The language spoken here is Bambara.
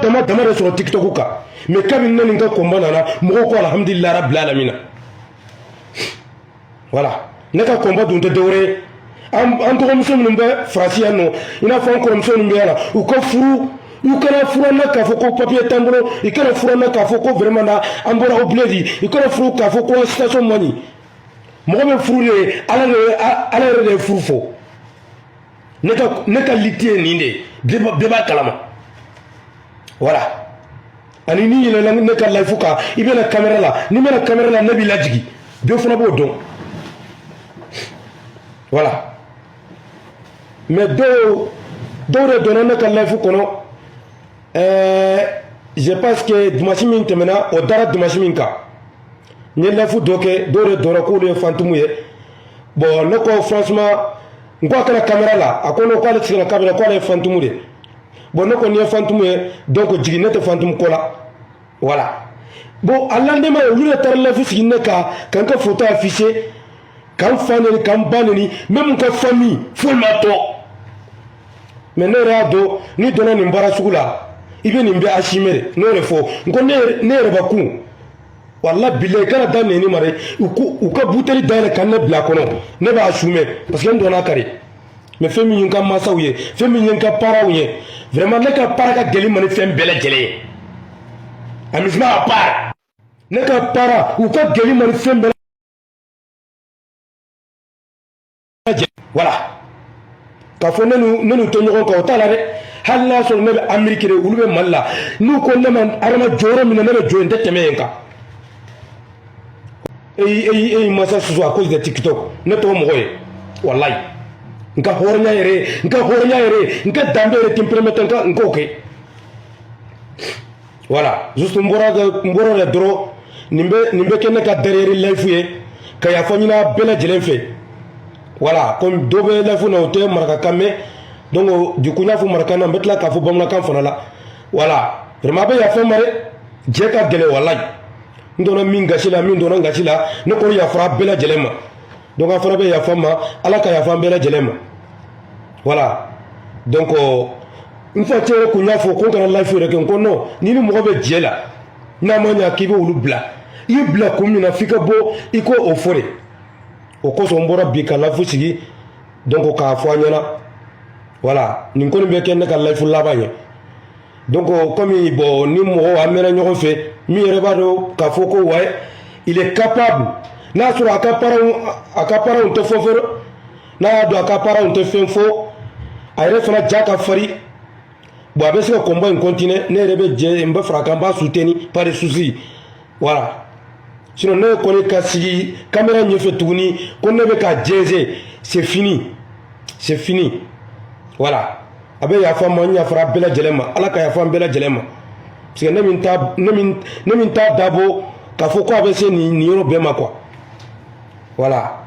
dama dama de sɔrɔ tiktok kan mais kabini ne ni n ka combat nana mɔgɔw ko alhamdulilayi rabila alamina voilà ne ka combat dun tɛ dɔwɛrɛ ye an dɔgɔmuso minnu bɛ faransi yan nɔ i n'a fɔ an kɔrɔmuso minnu bɛ yan na u ka furu u kana furu na k'a fɔ ko papiye t'an bolo i kana furu na k'a fɔ ko vraiment na an bɔra au bled i kana furu k'a fɔ ko situation man ɲi mɔgɔ bɛ furu de ala yɛrɛ de ye furu fɔ ne ka ne ka liti ye nin de ye bɛɛ b'a kalama voilà ani n'i yɛlɛla ne ka layifu kan i bɛna kamera la n'i ma na kamera la ne b'i lajigin bɛɛ fana b'o dɔn voilà mais dɔw dɔw de donna ne ka layifu kɔnɔ ɛɛ eh, je pense que dimanche min tɛmɛna o dara dimanche min kan n ye life dɔ kɛ dɔw de donna k'olu ye fantumu ye bon ne ko franchement n ko a ka na kamera la a ko non k'ale tɛ se ka na kamera k'ale ye fantumu de bon ne ko n'i ye fantumu ye donc jigin ne tɛ fantumu ko la voilà bon a lendemain olu de taara life sigi ne kan ka n ka foto afficher ka n fa neni ka n ba neni même n ka famille foyi ma to mais ne yɛrɛ y'a dɔn n'i donna nin baara sugu la i bɛ nin bɛɛ assumer de ne yɛrɛ fɔ n ko ne yɛrɛ b'a kun walayi bilayi kana dan neni ma dɛ u ka buteli dayɛlɛ ka ne bila a kɔnɔ ne b'a assumer parce que n donna kari mais fɛn min ye n ka mansaw ye fɛn min ye n ka parentw ye vraiment ne ka parent ka gɛlɛn n ma ni fɛn bɛɛ lajɛlen ye amusement à part ne ka parent u ka gɛlɛn n ma ni fɛn bɛɛ voilà k'a fɔ ne n'u tɛ ɲɔgɔn kan o t'a la dɛ hali n'a sɔrɔ ne bɛ ameriki de olu bɛ mali la n'u ko ne ma adama jɔ yɔrɔ min na ne bɛ jɔ yen n tɛ tɛmɛ yen kan e y'i mansa sɔsɔ à cause de tiktok ne t'o mɔgɔ ye walayi n ka hɔrɔnya yɛrɛ ye n ka hɔrɔnya yɛrɛ ye n ka danbe yɛrɛ tɛ n peremɛtɛ n ka n k'o kɛ voilà juste n bɔra n bɔra de dɔrɔn nin bɛ nin bɛ kɛ ne ka dernier life ye ka yafa ɲini a bɛɛ lajɛlen fɛ voilà comme dɔ bɛ life na o tɛ marakakan mɛn donc du coup n y'a fɔ marakakan na n bɛ tila k'a fɔ bamanankan fana la voilà vraiment a bɛ yafa n ma dɛ jɛ ka gɛlɛn walayi n donna min gasi la min donna n gasi la ne kɔni yafara bɛɛ lajɛlen ma donc aw fana bɛ yafa n ma ala ka yafa an bɛɛ lajɛlen ma voilà donc n facɛ yɛrɛ kun y'a fɔ ko n kana life yɛrɛ kɛ n ko non n'i ni mɔgɔ bɛ jɛ la n'a ma ɲa k'i bɛ olu bila i y'u bila kun min na f'i ka bɔ i k'o fɔ de o kosɔn n bɔra bi ka life sigi donc k'a fɔ aw ɲɛna voilà nin kɔni bɛ kɛ ne ka life laban ye donc komi bon ni mɔgɔw an mɛnna ɲɔgɔn fɛ min yɛrɛ b'a dɔn k'a fɔ ko ouais il est capable n'a sɔrɔ a ka paranw tɛ fɔ fɔlɔ n'a y'a dɔn a ka paranw tɛ fɛn fɔ a yɛrɛ fana ja ka farin bon a bɛ se ka combat in continuer ne yɛrɛ bɛ jɛ n bɛ fara a kan n b'a soutenir pas de souci voilà sinon ne kɔni ka sigi kamera ɲɛfɛ tuguni ko ne bɛ ka jɛnsɛn c'est fini c'est fini voilà a bɛ yafa n ma n yafara bɛɛ lajɛlen ma ala ka yafa an bɛɛ lajɛlen ma parce que ne min t'a dabɔ k'a fɔ ko a bɛ se nin yɔrɔ bɛɛ ma quoi voilà.